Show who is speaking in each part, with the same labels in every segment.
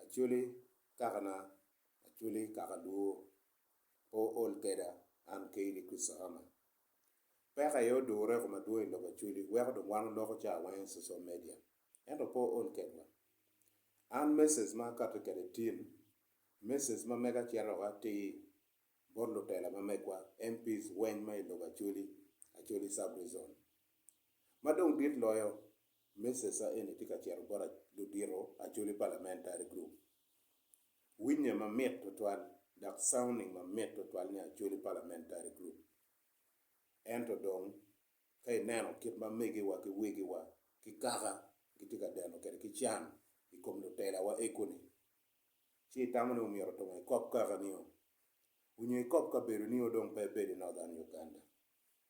Speaker 1: Acholi kakana acholi kaka dwor pe ool keda an Kayley Christahama. Peko aye odure koma dwong i lok acholi weko dong wan oloko ca weng i social media ento pe ool kedwa. An message ma akati kede tim message ma mega cito woko atir bot lutela ma megwa MPs weng ma i lok acholi, acholi sub-rezon. Ma dong dit loyo me cca eni tye ka cito bot ludito acholi parliamentary group. Winye mamit twatwal dok sounding mamit twatwal ni acholi parliamentary group. Ento dong ka ineno kit ma megiwa ki wegiwa ki kaka gitye ka deno kwede ki can i kom lutelawa eko ni, ci itamo ni omyero tunge ikop kaka nio, onyo ikop kabedo nio dong pe ebedo i Northern Uganda.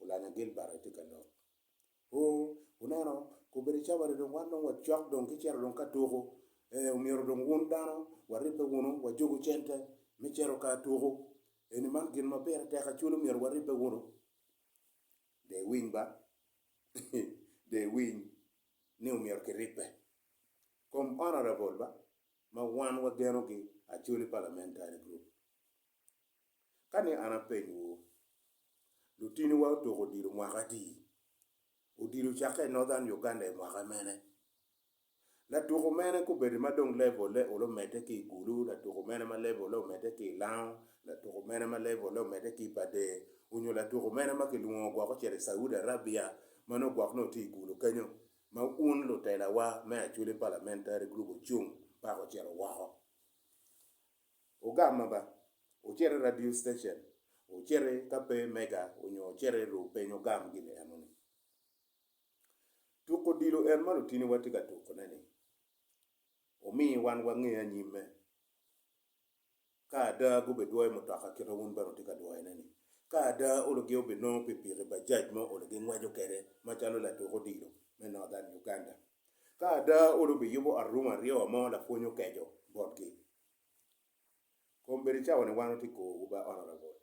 Speaker 1: Olanya Gilbert aye tye ka lok. Oo, wuneno, gubedo cawane dong, wan dong wacok dong ki cito dong ka tuku. Ee, omyero dong wun dano waribbe wunu, wajugu cente me cito ka tuku eni, man gin ma pire tek acwil, omyero waribbe wunu. Dee iwiny ba, dee iwiny ni omyero kiribbe kom honorable ba ma wan wagenogi acwil i parliamentary group. Ka ni an apenywu, lutiniwa otuko odilo mwaka adi? Odilo ocakke i Northern Uganda i mwaka mene? Latuko mene kubedi ma dong levole olo medde ki i Gulu, latuko mene ma levole omedde ki i Lango, latuko mene ma levole omedde ki i Bader, onyo latuko mene ma kilwongo gwok ocito i Saudi Arabia ma nongo gwok nongo tye i Gulu kenyo ma un lutelawa me Acholi Parliamentary Group ocung paka ocito woko? Ogama ba, ocit i radio station, ocit i ka pe mega onyo ocit i ru peny ogam gin eno ni. Tuko odilo en ma lutini wa tye ka tuko ne ni, omi wan wa nge anyim me. Ka ada gube dwoyo mutoka kite wun bene wutye ka dwoyo ne ni. Ka ada olo gi obi nongo pipiki bajaj ma olo gi ngweco kede ma calo latuk odilo me Northern Uganda Ka ada, olu biyubo arung aryo ma lapwony okeco botgi. Kombeddi cawani wan watye kowu ba Honourable,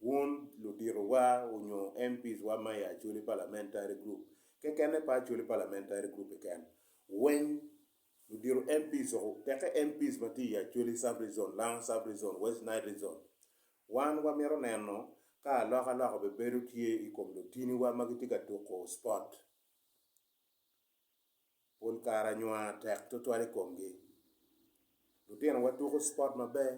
Speaker 1: wun ludito wa onyo MPs wa ma i Acholi Parliamentary Group kekene pe Acholi Parliamentary Group keken weng ludito MPs o teke MPs ma tye i Acholi Sub Rezon, Langa Sub Rezon, West Nile Rezon wan wa mito neno ka alok alok obebedo tye i kom lutini wa ma gitye ka tuko sport pol kare anywa tek twatwal i komgi. Lutinowa tuko cipot maber,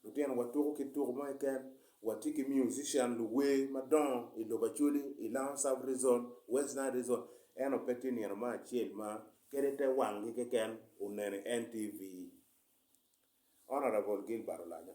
Speaker 1: lutinowa tuko kit tuko mo keken, watye ki musician luwer madongo i lobo Acholi, i Lounge South Region, West Nile Region, ento pe tye nino mo acel ma kadi te wanggi keken oneno i NTV. Honourable Gilbert Olanyo.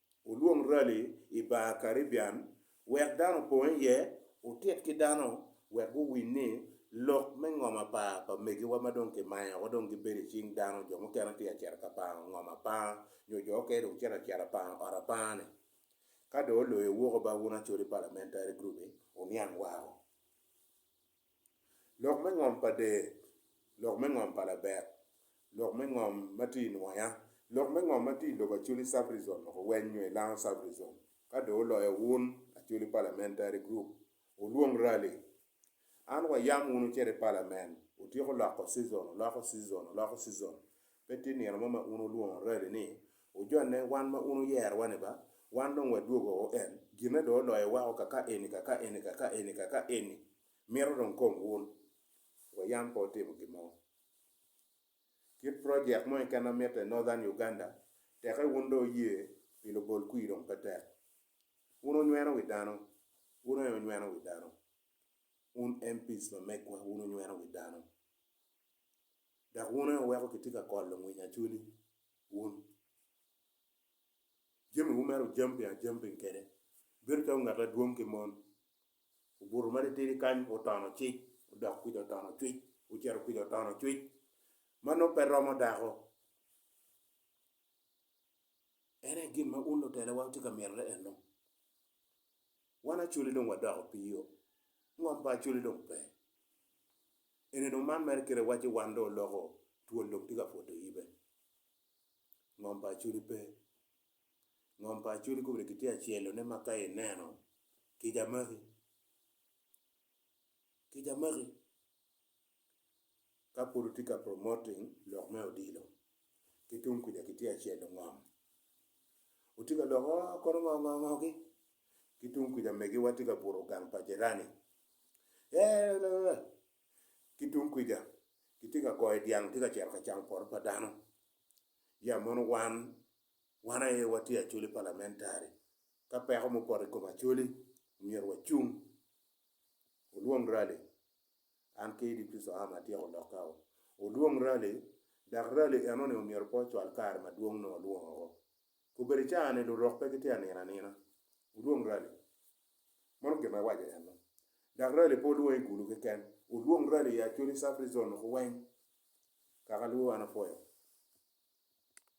Speaker 1: Wulwong rali i bar Caribbean wek dano opong iye, wutit ki dano wek guwiny ni lok me ngom apar pa megiwa ma dong kimayo woko dong gibedo i cing dano, jo mukene tye ka cito ka pango ngom apar nyo jo mukene dong cito acita pango ot apar-ni. Ka dong oloyo wuko ba wun acoli palamentari group-bi, wuniang wako. Lok me ngom pa dee, lok me ngom pa labek, lok me ngom ma tye i nwoya, lok me ngom ma tye i lobo Acholi Sub-Rizon loko weny nyo i Lango Sub-Rizon ka dong oloyo wun Acholi Parliamentary Group wulwong rally. An wayam wunu cito i Parliament, wutyeko loko season, wuloko season, wuloko season Pe tye nino mo ma un wulwongo rabi ni, Wujonne, wan ma un wuyerowa-ni ba? Wan dong wadwogo woko en, ginne dong oloyowa woko ka ka eni, ka ka eni, ka ka eni, ka ka eni. Mito dong kom wun. Wayam pe wutimo gin mo. Kit projek mo keken ma mitte i Northern Uganda, teke wun dong wuye pi lubol kwir dong pe tek. Un wunyweno wi dano, wun aye wunyweno wi dano. Un MPs ma megwa, wun wunyweno wi dano. dok wun aye wuweko kitye ka kolo ngwiny acwali wun. Jamiwu mere wujamping ajamping kwede, ibedo calo ngat adwong ki mon. Obuto ma titidi kany otono cic, odok kwija otono cwic, ocito kwija otono cwic. Man nongo pe romo dako. En aye gin ma un lutelewa wutye ka mito ennu. Wan Acholi dong wadoko piio, ngom pa Acholi dong pe. Eni dong man mere kite wacci wan dong oloko twol dong tye ka pwoto yibe. Ngom pa Acholi pe. Ngom pa Acholi kobedi kitye ka celo ne ma ka ineno kica magi, kica magi. ka pud otye ka promoting lok me odilo ki tung kuca ki tye acelo ngom otye ka lok oo kono ngo ngo ngo ki ki tung kuca megi wa tye ka buto gang pa jirani eeeeeh ki tung kuca ki tye ka goyo dyang tye ka cito ka camo poto pa dano ya mono wan wan aye wa tye acoli palamentari ka peko mo poto i kom acoli myero wa cung olwong rali An ki Edith Kristo Ham atyeko lokkau. Odwong rali, dak rali enoni omyero pe ocwal kare madwong nongo olwong oko. Kobedi caa-ni lurok pe gitye anino anina. Odwong rali. Mano gin ma iwaco enno. Dak rali pe olwong i gulu keken. Odwong rali i Acholi Sub-Rizon woko weng. Kaka lubo an apwoyo.